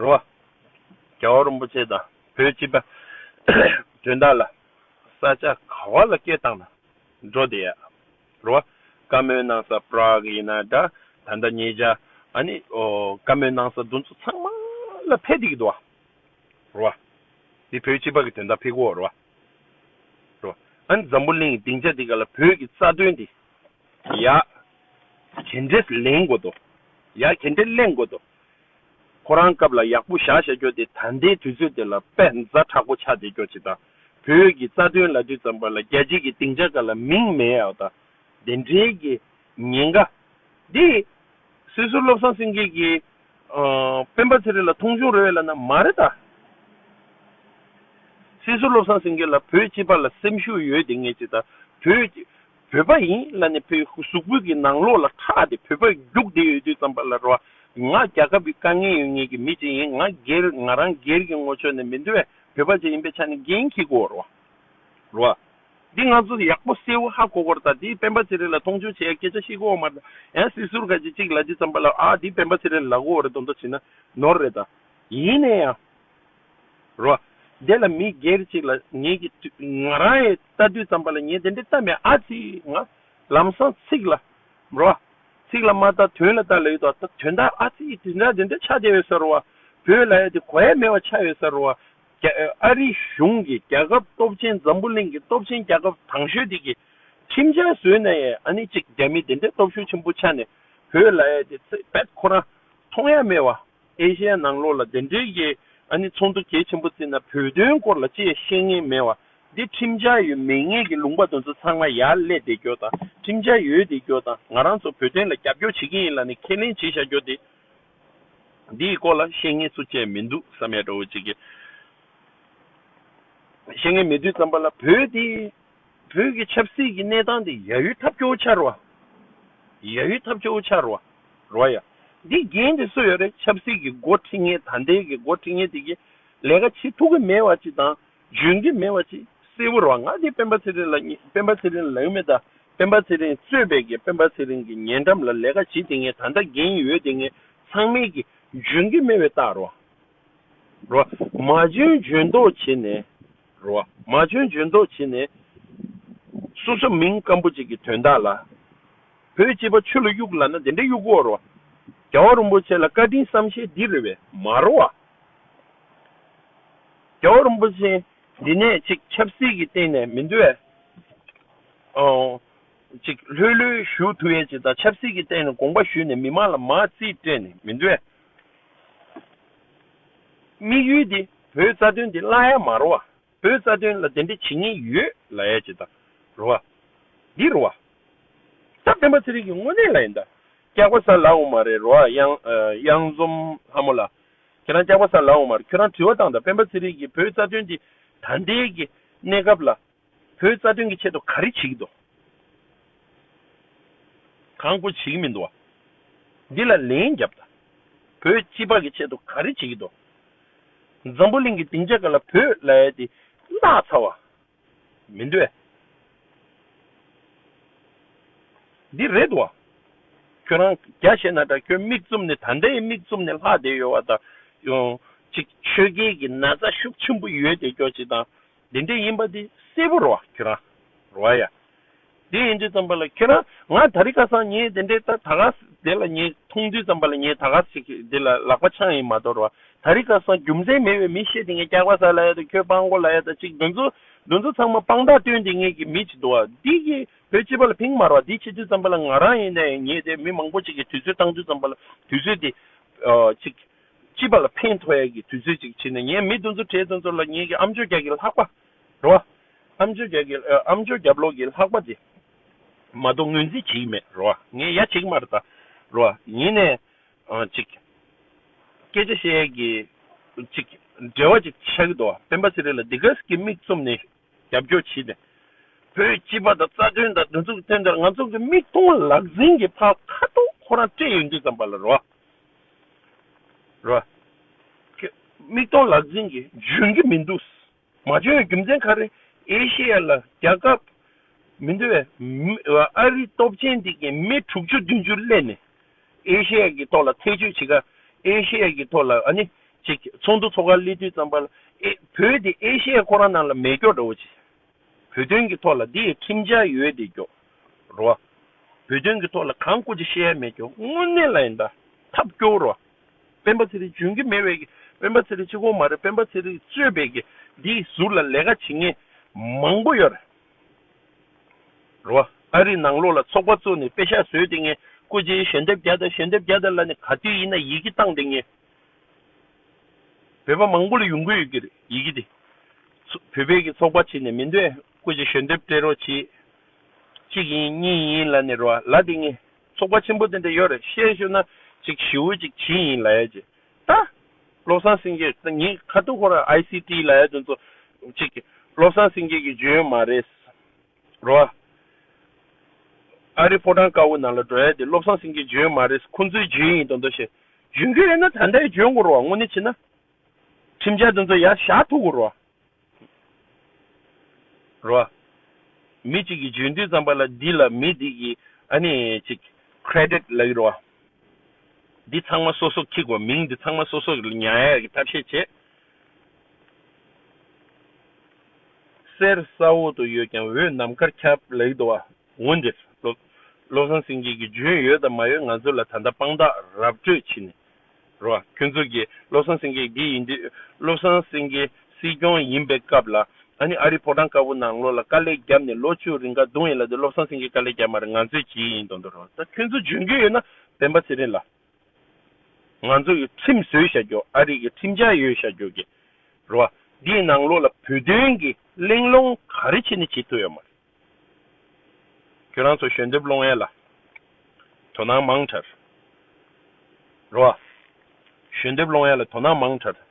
རོ། རྒྱལ་བ་རིན་པོ་ཆེ་དང་བོད་སྤྱི་པ་དོན་དག་ལ། ས་ཆ་ག་བ་ལ་སྐད་བཏང་ན་འགྲོ་བདེ་ཡ། རོ། བཀའ་མོལ་གནང་ས Prague ཡིན་ན་འདྲ་ད་ལྟ་ཉེ་ཆར་ཨ་ནི་བཀའ་མོལ་གནང་ས་འདུ་ཚོ་ཚང་མ་ལ་ཕེབས་བསྡད་ཀྱི་འདུག་བ། རོ། འདི་བོད་སྤྱི་པ་གི་དོན་དག་ཕེབས་ཀྱི་འོ་རོ། ཨཱ་འཛམ་བུ་གླིང་གི་སྡིངས་ཆ་འདི་ག་ལ་བོད་ཀྱི་རྩ་དོན་དེ་ཡར་གྱེན་འགྲེལ་གླེང་དགོས་དོ། ཡར་གྱེན་འགྲེལ་གླེང་དགོས་དོ། ཁོ་རང་སྐབས་ལ་ཡག་པོ་བཞག་བཞག་སྐྱོ་དེ་ད་ལྟའི་དུས་ཚོད་དེ་ལ་དཔེ་མཛའ་དྲག་པོ་ཆགས་དེ་སྐྱོ་བྱེད་དང་བོད་ཀྱི་རྩ་དོན་ལ་དུས་ཙམ་པ་ལ་རྒྱལ་སྤྱིས་ཀྱི་སྡིངས་ཆ་ག་ལ་མིང་མེད་ཨའོ་ད་བདེན་འགྲེལ་གྱི་ཉེན་ཁ་འདི། སྲིད་ཟུར་བློ་བཟང་སེང་གེ་གིས། སྤེན་པ་ཚེ་རིང་ལ་མཐོང་ཆུང་རེ་བས་ལབ་ན་མ་རེད་ད། སྲིད་ཟུར་བློ་བཟང་སེང་གེ་ལ་བོད་སྤྱི་པ་ལ་སེམས་ཤུགས་ཡོད་དེ་ངས་ཅི་ད་བོད། བོད་པ་ཡིན་ལ་ནས་བོད་གཟུགས་པོད་ཀྱི་ནང་ལོགས་ལ་ཁྲག་དེ་བོད་པ་རྒྱུགས་དེ་ཡོད་དུས་ཙམ་པ་ལ་རོ་ཨ། ང་རྒྱ་ཁབ་ཀྱི་དཀའ་ངལ་ཡོད་ངེས་ཀྱི་མི་ཅིག་ཡིན་ང་སྒེར་ང་རང་སྒེར་གྱི་ངོ་ཆོད་ནས་མི་འདུ་བས་བོད་པ་ཅིག་ཡིན་པའི་ཆ་ནས་འགན་ཁྱི་གོ་རོ་ཨ། འདི་ང་ཚོ་ཡག་པོ་སེ་ཝུ་ཧ་གོ་གོར་དང་དེའི་སྤེན་པ་ཚེ་རིང་ལ་མཐོང་ཆུང་བྱེད་ཡ་སྐད་ཆ་བཤད་གོ་འོ་མ་དང་ཡང་སྲིད་ཟུར་ག་ཅིག་གཅིག་ལ་ཅིག་བརྩམས་པ་ལ་ཨ་དེའི་སྤེན་པ་ཚེ་རིང་ལག་འོ་རེད་དོ་མདོ་བྱེད་ན་ནོར་རེད་ད། ཡིན་ནས་ཡང། རོ། དེ་ལ་མི་སྒེར་ཅིག་ལ་ངེད་ཀྱི་དུས་ང་རང་ཡི་ལྟ་དུས་བརྩམས་པ་ལ་ངས་དེ་འདྲའི་བལྟ་མེད་ཨ་ཙི་ང། ལམ་སང་ཚིག་ལ། རོ། ཚིག་ལ་མ་བལྟ་དོན་ལ་བལྟ་ལ་ཡོད་དོ་ད་དོན་དག་ཨ་ཙི་དེ་འདྲ་དེ་འདྲ་ཆགས་བསྡད་ཡོད་ས་རུ་བ། བོད་ལ་ཡ་དེ་གོ་ཡ་མེད་བ་ཆགས་ཡོད་ས་རུ་བ། ཨ་རི་གཞུང་གིས་རྒྱལ་ཁབ་སྟོབས་ཆེན་འཛམ་བུ་གླིང་གི་སྟོབས་ཆེན་རྒྱལ་ཁབ་དང་ཤོས་དེ་གི་ཁྲིམས་འཆར་བཟོས་ནས་ཨ་ནི་གཅིག་རྒྱ་མི་དེ་འདྲའི་སྟོབས་ཤུགས་ཆེན་པོ་ཆགས་ནས་བོད་ལ་ཡལ་ཏེ་ཚེ་བལ་ཁོ་རང་མཐོང་ཡ་མེད་བ། ཨེ་ཤེ་ཡ་ནང་ལོགས་ལ་དེ་འདྲའི་གི་ཨ་ནི་ཚོགས་འདུ་གལ་ཆེན་པོ་བརྩིས་ན་བོད་དོན་སྐོར་ལ་ཅི་ཡ་ཤེས་ངེས་མེད་བ། འདི་ཁྲིམས་འཆར་ཡོད་མེད་ངེས་གི་ལུང་པ་དོན་ཚོ་ཚང་མ་ཡར་སླེ་བསྡད་རྒྱོ་དང་ཁྲིམས་འཆར་ཡོད་བསྡད་རྒྱོ་དང་ང་རང་ཚོ་བོད་དོན་ལ་རྒྱབ་སྐྱོར་བྱེད་གི་ཡིན་ལ་ནི་ཁས་ལེན་བྱེད་བཞག་རྒྱོ་དེ། འདིའི་སྐོར་ལ་བཤེས་གཉེན་སུ་བཅས་མི་འདུག་བསམ་ཡས་དགྲ་བོ་གཅིག་གིས། བཤེས་གཉེན་མེད་དུས་བརྩམས་པ་ལ་བོད་དེ། བོད་ཀྱི་ཆབ་སྲིད་ཀྱི་གནས་སྟངས་དེ་ཡ་ཡུལ་ཐབས་སྐྱོ་བོ་ཆགས་རུ་བ། ཡ་ཡུལ་ཐབས་སྐྱོ་བོ་ཆགས་རུ་བ། རུ་བ་ཡ། འདི་རྒྱན་དེ་སུ་ཡོད་རེད་ཆབ་སྲིད་ཀྱི་འགོ་ཁྲིད་ངེད་ད་ལྟའི་གི་འགོ་ཁྲིད་ངེད་དེ་གི། ལས་ཀ་བྱེད་ཐུབ་གི་མེད་བ་ཅིག་དང་བརྗོད་འདི་མེད་བ་ཅི་སེ་བོར་བ་ང་དེ་སྤེན་པ་ཚེ་རིང་ལ་གཉིས་སྤེན་པ་ཚེ་རིང་ལགས་མེད་ད་སྤེན་པ་ཚེ་རིང་རྩོད་པའི་གེ་སྤེན་པ་ཚེ་རིང་གི་ཉེ་འགྲམ་ལ་ལས་ཀ་བྱེད་དེ་ངས་ད་ལྟ་འགན་ཡོད་དེ་ངས་ཚང་མེད་གི་བརྗོད་འགི་མེད་བའི་རྟགས་རོ་རོ་མ་འཇོན་འཇོན་མདོག་བྱེད་ནས་རོ་མ་འཇོན་འཇོན་མདོག་བྱེད་ནས་སོ་སོ་མིང་སྐམ་པོ་ཅིག་གི་དོན་དག་ལ་བོད་སྤྱི་པ་ཆོས་ལ་གཡུག་ལ་ན་དེ་འདྲ་གཡུག་གོ་རོ་རྒྱ་བ་རུན་པོ་ཆེ་ལ་བཀའ་དྲིན་བསམ་ཤེས་འདི་རེ་བས་མ་རོ་བ། རྒྱལ་བ་རིན་པོ་ཆེ་འདི་ནས་ཅིག་ཆབ་སྲིད་ཀྱི་སྟེང་ནས་མི་འདུལ་བའི། ཅིག་ལྷོད་ལྷོད་བཞུགས་ཐུབ་ཡས་ཅིག་དང་ཆབ་སྲིད་ཀྱི་སྟེང་ནས་དགོངས་པ་ཞུས་ནས་མི་མང་ལ་མ་རྩིས་སྤྲད་ནས་མི་འདུལ་བའི། དམིགས་ཡུལ་འདི་བོད་རྩ་དོན་འདི་བརླག་ཡ་མ་རོ་བ། བོའི་རྩ་དོན་ལ་དེ་འདྲའི་བྱེད་ཉེས་ཡོད་ལ་ཡ་བྱེད་དང། རུ་བ། འདི་རུ་བ། སྟབས་བདེན་པ་ཚེ་རིང་གི་དངོས་གནས་ལ་ཡིན་ད། སྐྱག་པ་ཟ་ལགས་འོ་མ་རེད་རུ་བ། གཡང་འཛོམ་ལྷ་མོ་ལགས། ཁྱེད་རང་སྐྱག་པ་ཟ་ལགས་འོ་མ་རེད་ཁྱོད་རང་དྲི་བ་བཏང་ད་སྤེན་པ་ཚེ་རིང་གིས་བོའི་རྩ་དོན་འདི་ད་འདྲའི་གི་གནས་སྐབས་ལ། བོའི་རྩ་དོན་གི་ཆེད་དུ་ག་རེ་བྱེད་ཀྱི་འདུག། གང་དགོས་བྱེད་ཀྱི་མི་འདུག་བ། འདི་ལ་ལན་རྒྱབ་ད། བོའི་སྤྱི་ཕག་གི་ཆེད་དུ་ག་རེ་བྱེད་ཀྱི་འདུག། འཛམ་བུ་གླིང་གི་སྡིངས་ཆ་འགའ་ལ་བོད་ལྭ་ཡལ་ཏེ་གནག་ཚར་བ་མི་འདོད། འདི་རེད་བ། ཁྱོད་རང་རྒྱ་བྱས་ན་འདྲ་ཁྱོད་མིག་བཙུམ་ནས་ད་ལྟའི་མིག་བཙུམ་ནས་ལྷག་བསྡད་ཡོད་བ་དང། ཅིག་ཆོས་རྒྱལ་གྱི་ན་ཚ་ཤུགས་ཆེན་པོ་ཡོད་བསྡད་ཀྱོག་ཅིག་དང། བདེན་བདེན་ཡིན་པ་འདི་སྲིད་པོ་རོ་ཁྱོད་རང་རོ་ཨ་ཡ། དེ་ཡིན་དུས་ཙམ་པ་ལ་ཁྱོད་རང་ང་ད་རི་ཁ་སང་ངས་བདེན་བདེན་ད་ད་ག་དེ་ལ་ངས་མཐོང་དུས་ཙམ་པ་ལ་ངས་ད་ག་ཟིག་གི་དེ་ལ་ལག་པ་འཆང་ཡིན་མ་གཏོགས་རོ་ཨ་ད་རི་ཁ་སང་རྒྱུ་མཚན་མེད་པའི་མི་བཤད་དེ་ངས་སྐྱག་པ་ཟ་ལ་ཡ་དང་ཁྱོད་དཔང་གོ་ལ་ཡ་དང་ཅིག་འདུ་འཛོ་འདུ་འཛོ་ཚང་མ་དཔང་རྟགས་སྟོན་དེ་ངས་ཀྱི་མི་བྱེད་དོ་ཨ་འདི་ཀྱི་བོད་སྤྱི་པ་ལ་ཕིང་མར་བ་འདི་བྱེད་དུས་ཙམ་པ་ལ་ང་རང་ཡིན་ནའི་ངས་དེ་མི་མང་པོ་ཅིག་གི་དུས་ཚོད་བཏང་དུས་ཙམ་པ་ལ་དུས་ཚོད་དེ་ཨ་ཅིག། སྐྱིད་པ་ལ་ཕན་ཐོགས་ཡས་ཀྱི་དུས་ཚོད་ཅིག་ཕྱིན་ནས་ངས་མི་དུ་ཚོད་བྲལ་དུ་ཚོད་ལ་ངེད་ཀྱི་ཨམ་ཅོ་རྒྱག་གི་ལྷག་པ་རེད་བ། ཨམ་ཅོ་རྒྱག་གི་ཨམ་ཅོ་རྒྱབ་ལོག་གི་ལྷག་པ་དེ་མ་གཏོགས་ངོས་འཛིན་བྱེད་ཀྱི་མེད་རེད་བ། ངས་ཡ་བྱེད་ཀྱི་མ་རེད་ད་རེད་བ། ཡིན་ནས་ཅིག། སྐད་ཆ་བཤད་ཡས་ཀྱི་ཅིག་འབྲེལ་བ་ཅིག་ཆགས་ཀྱི་འདུག་བ། སྤེན་པ་ཚེ་རིང་ལ་འདི་ག་ཟིག་གིས་མིག་བཙུམ་ནས་རྒྱབ་སྐྱོར་བྱེད་ནས། བོད་སྤྱི་པ་དང་རྩ་དོན་དང་འདི་ཚོ་གི་དོན་དེར་ང་ཚོ་གི་མིག་མཐོང་ལག་ཟིན་གྱི་ཕ་ཁ་ཐོག་ཁོ་རང་སྤྲད་ཡོད་འདི་ཙམ་པ་ལ་རེད་བ། ར། ཀྱི། མིག་མཐོང་ལག་འཛིན་གྱིས་འཇོན་གྱི་མི་འདུག། མ་འཇོན་བའི་རྒྱུ་མཚན་ག་རེ། ཨེ་ཤེ་ཡ་ལ་རྒྱ་ཁབ་མི་འདུ་བས། ཨ་རིའི་སྟོབས་ཆེན་དེ་གཉིས་མི་དྲུག་ཅུ་བདུན་ཅུ་སླེབས་ནས། ཨེ་ཤེ་ཡ་གི་ཐོག་ལ་ཐེ་ཇུས་བྱེད་ཁ། ཨེ་ཤེ་ཡ་གི་ཐོག་ལ་ཨ་ནི། ཅིག་ཚོགས་འདུ་ཚོགས་ཁ་སླེབས་དུས་ཙམ་པ་ལ། ཨེ། བོད་དེ་ཨེ་ཤེ་ཡ་ཁོ་རང་ནང་ལ་མེད་སྐྱོ་འདྲ་བོ་བྱེད། བོད་དོན་གྱི་ཐོག་ལ་འདི་ཡི་ཁྲིམས་འཆར་ཡོད་དེ་རྒྱོ། རོ། བོད་དོན་གྱི་ཐོག་ལ་གང་བཀོད་ཅི་བཤད་ཡ་མེད་རྒྱོ་དངོས་གནས་ལ་ཡིན་ད་ཐབས་རྒྱོ་རོ། སྤེན་པ་ཚེ་རིང་འཇོན་གྱི་མེད་བས་ཀྱི་སྤེན་པ་ཚེ་རིང་སྤྱི་ཁོག་མ་རེད་སྤེན་པ་ཚེ་རིང་རྩོད་བས་ཀྱི་འདི་ཡི་ཟུར་ལ་ལས་ཀ་བྱེད་ངེས་མང་པོ་ཡོད། རོ། ཨ་རིའི་ནང་ལོགས་ལ་ཚོགས་པ་གཙོས་ནས་དཔེ་ཤག་བཟོས་དེ་ངས་བཀོད་ཅི་ཡི་ཞལ་འདེབས་རྒྱ་དང་ཞལ་འདེབས་རྒྱ་དང་ལ་ནི་ག་དུས་ཡིན་ན་ཡིག་གི་བཏང་དེ་ངས་བོད་པ་མང་པོ་ལ་ཡོང་གི་ཡོད་ཀྱི་རེད་ཡི་གི་དེ། བོད་པའི་གི་ཚོགས་པ་བྱེད་ནས་མི་འདོད་སྐུ་ཅིག་ཞོན་འདེབས་སྤྲད་རོགས་བྱེད། གཅིག་ཡིན་གཉིས་ཡིན་ལ་ནི་རོ་ལ་དེ་ངས་ཚོགས་པ་ཆེན་པོ་དེ་འདྲ་ཡོད་རེད་བཤད་ཞོན་ན་ཅིག་ཞིའོ་ཅིག་བྱིན་ཡིན་ལ་ཡ་ཅེ་ད། བློ་བཟང་སེང་གེ་ད་ངས་ཁ་ཐུག་ཁོ་ར ICT ལ་ཡ་དོན་ཚོ་ཅིག་བློ་བཟང་སེང་གེ་གི་བརྗོད་ཡོན་མ་རེད། རོ། ཨ་རིའི་ཕོ་བྲང་དཀར་བོའི་ནང་ལ་འགྲོ་ཡ་དེ་བློ་བཟང་སེང་གེའི་འཇོན་མ་རེད་ཁོང་ཚོའི་འཇོན་ཡིན་དོན་དོ་ཞེས་འཇོན་འཇོན་ཡིན་ན་ད་ལྟའི་འཇོན་དགོས་རོགས་དངོས་གནས་བྱས་ན་ཁྲིམས་འཆར་དེ་ཚོ་ཡར་བཞག་ཐུབ་དགོས་རོགས། རོ། མི་གཅིག་གིས་འཇོན་དུས་ཙམ་པ་ལ་འདི་ལ་མི་འདི་གིས་ཨ་ནི་ཅིག Credit ལགས་རོགས། འདི་ཚང་མ་སོ་སོ་ཁིག་གོ་མིང་འདི་ཚང་མ་སོ་སོ་ཉར་ཡ་གི་ཐབས་ཤེས་བྱེད། གསེར་ས་འོག་ཏུ་ཡོད་ཀྱང་འོད་ནམ་མཁར་ཁྱབ་ལེགས་འདུག་བ་ངོ་འདིར། བློ་བཟང་སེང་གེ་གི་འཇོན་ཡོད་དང་མ་ཡོད་ང་ཚོ་ལ་ད་ལྟ་དཔང་རྟགས་རབ་སྤྲོད་བྱེད་ནི་རོ། ཁྱོད་ཚོ་གིས་བློ་བཟང་སེང་གེ་འདི་ཡིན་དུས་བློ་བཟང་སེང་གེ་སྲིད་སྐྱོང་ཡིན་པའི་སྐབས་ལ་ཨ་ནི་ཨ་རིའི་ཕོ་བྲང་དཀར་པོ་ནང་ལོག་ལ་དཀའ་ལས་བརྒྱབ་ནས་ལོ་བཅུ་རིང་ཁ་རྡུང་ཡིན་ལ་དུས་བློ་བཟང་སེང་གེ་དཀའ་ལས་བརྒྱབ་མ་རེད་ང་ཚོས་བྱེད་ཡིན་དོན་དུ་རོ། ད་ཁྱོད་ཚོ་འཇོན་རྒྱུ་ཡོད་ན་བན་པ་ཚེ་རིང་ལ། ང་ཚོ་གི་ཁྲིམས་བཟོས་བྱ་རྒྱུ་ཨ་རིག་གི་ཁྲིམས་འཆར་ཡོད་བྱ་རྒྱུ་གི་རེད་བ། འདིའི་ནང་ལོགས་ལ་བོད་དོན་གི་གླེང་སློང་ག་རེ་བྱེད་ནི་བྱེད་ཐུབ་ཡོད་མ་རེད། ཁྱོད་རང་ཚོ་ཞོན་འདེབས་སློང་ཡས་ལ་དོ་སྣང་མང་དྲགས་རེད་བ། ཞོན་འདེབས་སློང་ཡས་ལ་དོ་སྣང་མང་དྲགས་རེད།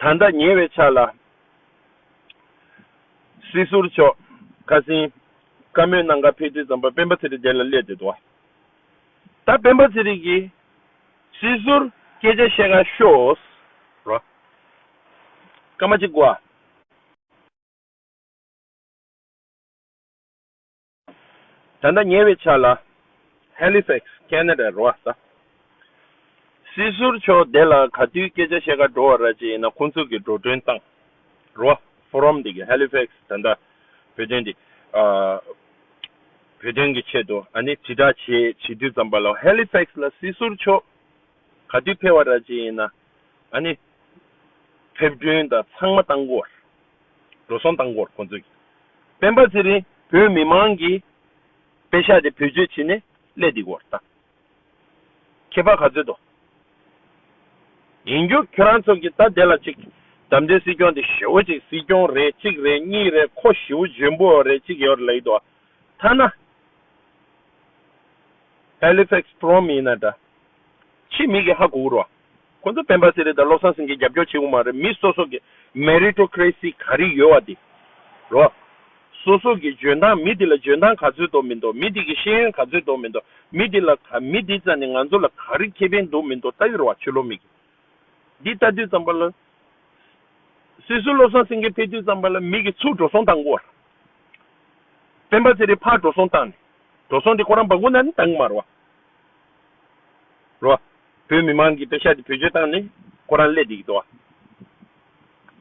ད་ལྟ་ཉེ་བའི་ཆ་ལ། སྲིད་ཟུར་མཆོག་ཁ་སིང་ཀ་མོའི་ནང་ཁ་ཕེབས་དུས་ཙམ་པར་སྤེན་པ་ཚེ་རིང་དེ་ལ་སླེབས་ཏེ་འདུག་ད་སྤེན་པ་ཚེ་རིང་གིས་སྲིད་ཟུར་སྐད་ཆ་བཤད་ཁ་ཤོས་རོགས་སྐར་མ་གཅིག་གོ་ཨ། ད་ལྟ་ཉེ་བའི་ཆར་ལ Halifax Canada རོ་ས་སྲིད་ཟུར་མཆོག་དེ་ལ་ག་དུས་སྐད་ཆ་བཤད་ག་འགྲོ་བ་ར་ཅི་ཡིན་ན་ཁོང་ཚོ་གི་འགྲོ་གྲོན་བཏང་རོ Forum དེ་གི Halifax ད་ལྟ་བོད་དོན་དེ་བོད་དོན་གི་ཆེད་དུ་ཨ་ནི་དྲི་བསྒྲགས་བྱེད་བྱེད་དུས་ཙམ་པ་ལ Halifax ལ་སྲིད་ཟུར་མཆོག་ག་དུས་ཕེ་བ་ར་ཅི་ཡིན་ན་ཨ་ནི་ཕེབས་བསྐྲུན་དང་ཚང་མ་བཏང་གོ་ར་འགྲོ་སོང་བཏང་གོ་ར་ཁོང་ཚོ་གི། སྤེན་པ་ཚེ་རིང་བོད་མི་མང་གིས་དཔེ་ཤག་དེ་བེད་སྤྱོད་བྱེད་ནས་ཀླད་སྡིག་བོར་བཏང། ཁྱེད་ཕ་ག་ཚོད་དོ། ཡིན་རྒྱུ་ཁྱོད་རང་ཚོ་གི་ད་དེ་ལ་ཅིག་དམ་འདི་སྲིད་སྐྱོང་དེ་ཞེ་བོ་ཅིག་སྲིད་སྐྱོང་རེད་གཅིག་རེད་གཉིས་རེད་ཁོ་ཞེ་བོ་འཇོན་པོ་རེད་ཅིག་ཡོད་ལེགས་དོ་ཐ་ན། Halifax Prom ཡིན་ན་འདྲ། ཕྱི་མིག་གི་ཧ་གོ་རོ། ཁོ་ཚོ་སྤེན་པ་ཟེར་རེད་དང་བློ་བཟང་སེང་གེ་རྒྱབ་སྐྱོར་བྱེད་དགོས་མ་རེད་མི་སོ་སོ་གི Meritocracy ག་རེ་ཡོད་བ་དེ་རོ། སོ་སོ་གི་འཇོན་ཐང་མི་དེ་ལ་འཇོན་ཐང་ག་ཚོད་འདོག་མི་འདོག་མི་དེ་གི་ཤེས་ཡོན་ག་ཚོད་འདོག་མི་འདོག་མི་དེ་ལ་ག་མི་དེ་ཙམ་ནས་ང་ཚོ་ལ་ག་རེ་ཁེ་ཕན་འདོག་མི་འདོག་ལྟ་ཡོད་ར་བ་ཆོས་ལོ་མིག་འདི་ལྟ་དུས་ཙམ་པ་ལ་སོ་སོའི་བློ་བཟང་སེང་གེ་ཕེབས་དུས་ཙམ་པ་ལ་མིག་གི་ཚུགས་འགྲོ་སོང་བཏང་གོ། སྤེན་པ་ཟེར་རེད་ཕར་འགྲོ་སོང་བཏང་ནས་འགྲོ་སོང་དེ་ཁོ་རང་འབག་གོ་ན་ནི་བཏང་གི་མ་ར་བ་རོ། བོད་མི་མང་གིས་དཔེ་ཞག་འདི་བེད་སྤྱོད་བཏང་ནས་ཁོ་རང་ཀླད་འདེད་ཀྱི་འདུག་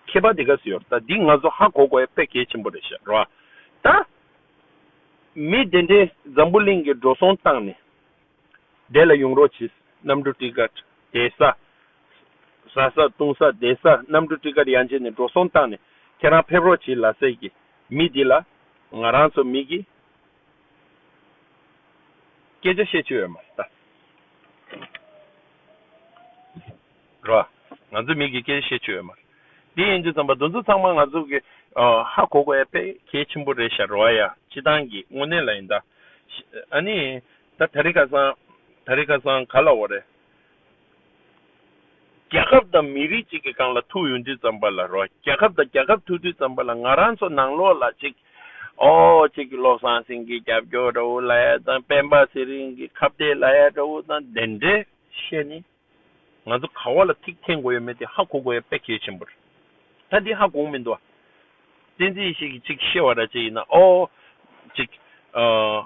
མཁས་པ་དེ་ག་སུ་ཡོད་ད་འདི་ང་ཚོ་ཧ་གོ་གོ་ཡ་དཔེ་གལ་ཆེན་པོ་རེད་ཤག་རོ་ད། མི་བདེན་འདྲེ་འཛམ་བུ་གླིང་གི་འགྲོ་སོང་བཏང་ནས་བདེ་ལ་ཡོང་རོགས་གྱིས་གནམ་གྲུ་ཀྲི་ཀར་དེ་ས་ཟ་ས་བཏུང་ས་དེ་ས་གནམ་གྲུ་ཀྲི་ཀར་ཡང་བྱས་ནས་འགྲོ་སོང་བཏང་ནས་ཁྱེད་རང་ཕེབས་རོགས་གྱིས་ལ་སེ་གི་མི་འདི་ལ་ང་རང་ཚོ་མི་གི། སྐད་ཆ་བཤད་ཆོས་མ་རེད་ད། རེད་བ། ང་ཚོ་མིག་གིས་སྐད་ཆ་བཤད་ཆོས་མ་རེད། དེ་ཡིན་དུས་རྩམ་པ་འདུ་འཛོ་ཚང་མ་ང་ཚོ་གི། ཧ་གོ་གོ་ཡ་ཕེད་གལ་ཆེན་པོ་རེད་ཤ་རེད་བ་ཡ་སྤྱི་ཐང་གི་དངོས་གནས་ལ་ཡིན་ད། ཨ་ནི། ད་ད་རི་ཁ་སང། ད་རི་ཁ་སང་ག་ལ་འོ་རེད། རྒྱལ་ཁབ་དང་མི་རིགས་གཅིག་གི་རྐང་ལ་ཐུག་ཡོང་དུས་ཙམ་པ་ལ་རོ་རྒྱལ་ཁབ་དང་རྒྱལ་ཁབ་ཐུག་དུས་ཙམ་པ་ལ་ང་རང་ཚོ་ནང་ལོག་ལ་ཅིག་འོའོ་ཅིག་བློ་བཟང་སེང་གེའི་རྒྱབ་སྐྱོར་འདྲ་བོ་ལ་ཡ་དང་སྤེན་པ་ཚེ་རིང་གི་ཁ་བརྡའི་ལ་ཡ་འདྲ་བོ་དང་དེ་འདྲས་བཤད་ནས་ང་ཚོ་ག་བ་ལ་ཐིག་འཐེན་དགོས་ཡོད་མེད་དེ་ཧ་གོ་དགོས་ཡ་དཔེ་གལ་ཆེན་པོ་རེད་ད་འདི་ཧ་གོང་མི་འདུག་བསྟན་འཛིན་ཞིག་གིས་ཅིག་བཤད་བ་འདྲ་ཅིག་ཡིན་ན་འོའོ་ཅིག་ཨ།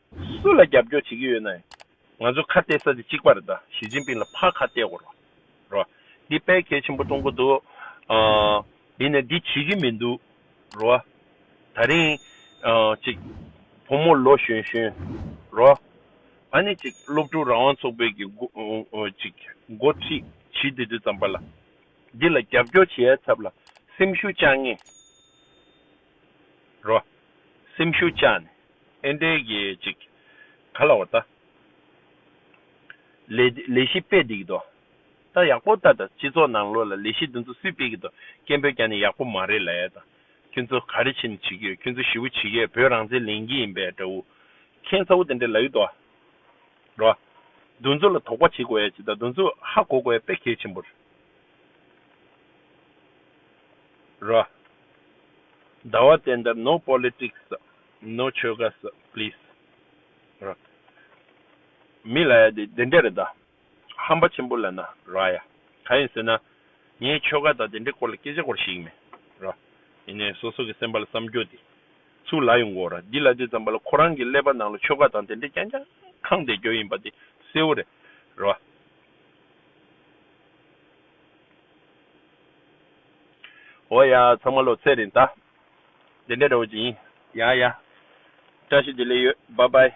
སུ་ལ་རྒྱབ་སྐྱོར་བྱེད་ཀྱི་ཡོད་ནའི། ང་ཚོ་ཁ་གཏད་ས་དེ་གཅིག་པ་རེད་ད་ཞི་ཅིན་ཕིན་ལ་ཕར་ཁ་གཏད་དགོས་རོགས་རོགས། འདི་དཔེ་གལ་ཆེན་པོ་གཏོང་གི་འདུག་འདི་ནས་འདི་བྱེད་ཀྱི་མི་འདུག་རོགས། ད་རིང་ཅིག་བུ་མོ་ལོ་གཞོན་གཞོན་རོགས། ཨ་ནི་ཅིག་སློབ་ཕྲུག་རང་དབང་ཚོགས་པའི་གི་ཅིག་འགོ་ཁྲིད་བྱིས་དེ་དུས་ཙམ་པ་ལ་འདི་ལ་རྒྱབ་སྐྱོར་བྱེད་ཡ་ཚབ་ལ་སེམས་ཤུགས་བཅངས་ངེས། རོ། སེམས་ཤུགས་བཅག་ནས་ཨེ་འགྲེལ་གྱི་ཅིག། ག་ལ་བ་ད། ལས་ལས་གཞི་སྤེལ་བསྡད་ཀྱི་འདུག་ད་ཡག་པོ་ད་ད་སྤྱི་ཚོགས་ནང་ལོགས་ལ་ལས་གཞི་འདི་ཚོ་སུས་སྤེལ་གྱི་འདུག་སྐད་འབོད་ཀྱང་ནི་ཡག་པོ་མ་རེད་ལ་ད་ཁྱོད་ཚོ་ག་རེ་བྱེད་ནི་བྱེད་ཀྱི་ཡོད་ཁྱོད་ཚོ་ཞི་བོ་བྱེད་ཀྱི་ཡོད་བོད་རང་བཙན་ལེན་གྱི་ཡིན་པས་དགྲ་བོ། ཁྱེད་ཚ་བོ་དེ་འདྲ་ལ་ཡོད་དོ། རོ། འདུ་འཛོ་ལ་དོགས་པ་བྱེད་དགོས་ཡ་ཅིག་ད་འདུ་འཛོ་ཧ་གོ་དགོས་ཡ་དཔེ་གལ་ཆེན་པོ་རེད། ར། ཟླ་བ་དེ་འདྲ no politics no ཆོལ་ཁ་ཟ please ར། མི་ལ་ཡ་དེ་འདྲ་རེད་ད། ཧམ་པ་ཆེན་པོ་ལ་ན་ར་ཡ། ག་ཡིན་ཟེར་ན། ངས་ཆོལ་ཁ་དང་དེ་འདྲའི་སྐོར་ལ་སྐད་ཆ་གོ་ར་ཤེས་ཀྱི་མེད་ར། ཡིན་ནའི་སོ་སོ་གི་སེམས་པ་ལ་བསམ་རྒྱོ་དེ་ཚུ་ལ་ཡོང་གོ་ར་འདི་ལ་དེ་ཙམ་པ་ལ་ཁོ་རང་གི་ཀླད་པ་ནང་ལ་ཆོལ་ཁ་དང་དེ་འདྲ་རྐྱང་རྐྱང་ཁང་བསྡད་རྒྱོ་ཡིན་པ་དེ་གསལ་བོ་རེད་ར། འོ་ཡ། ཚང་མ་ལོ་ཚད་རེད་ད། དེ་འདྲ་རེད་འོ་ཅི་ཡིན། ཡ་ཡ། བཀྲ་ཤིས་བདེ་ལེགས་ཡོད་བྷ་བྷའི།